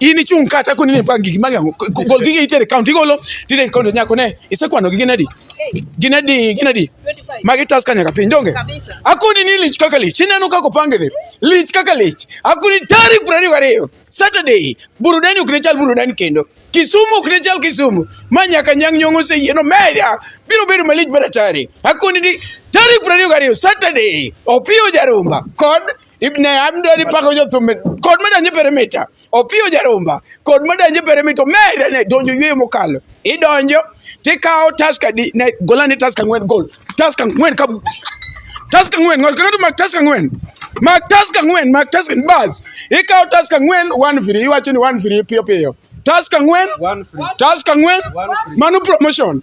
in ichung' ka tako ni pa gigi magi ango gol gigi itere count igolo tire count nyako ne isekwano gi ginadi ginadi ginadi magi tas ka nyaka piny donge akuni ni lich kaka lich ineno kaka opangene lich kaka lich akuni tarik piero ariyo gariyo saturday burudani ok ne chal burudani kendo kisumu ok ne chal kisumu ma nyaka nyang' nyong' oseyieno media biro bedo malich mar atari akuni ni tarik piero ariyo gariyo saturday opiyo jarumba kod ibne amdo ni pako jo thumbe kod meda nyi perimita opiyo jarumba kod meda nyi perimita meda ne donjo yweyo mokalo idonjo tikawo task adi ne gola ni task ang'wen gol task ang'wen ka task ang'wen ngol kang'ato mak task ang'wen mak task ang'wen mak task bas ikawo task ang'wen one free iwacho ni one free piyo piyo task ang'wen task ang'wen mano promotion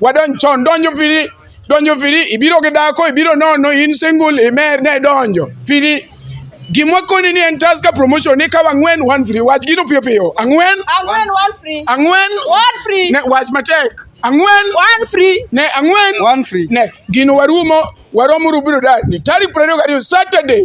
Wadonj chon, donjo firi, donjo firi, ibiro gi dhako, ibiro nono, in single, imer, ne donjo, firi. Gimwa koni ni en Tusker promotion ni kawa ang'wen one free. Wach gino piyo piyo. Ang'wen? Ang'wen one free. Ang'wen? One free. Ne wach matek. Ang'wen? One free. Ne ang'wen? One free. Ne gino warumo, waromo rubiro dani. Tarik 22 Saturday.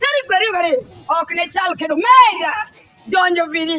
Tarik prariyo gariyo ok ne chal kendo mega donjo vini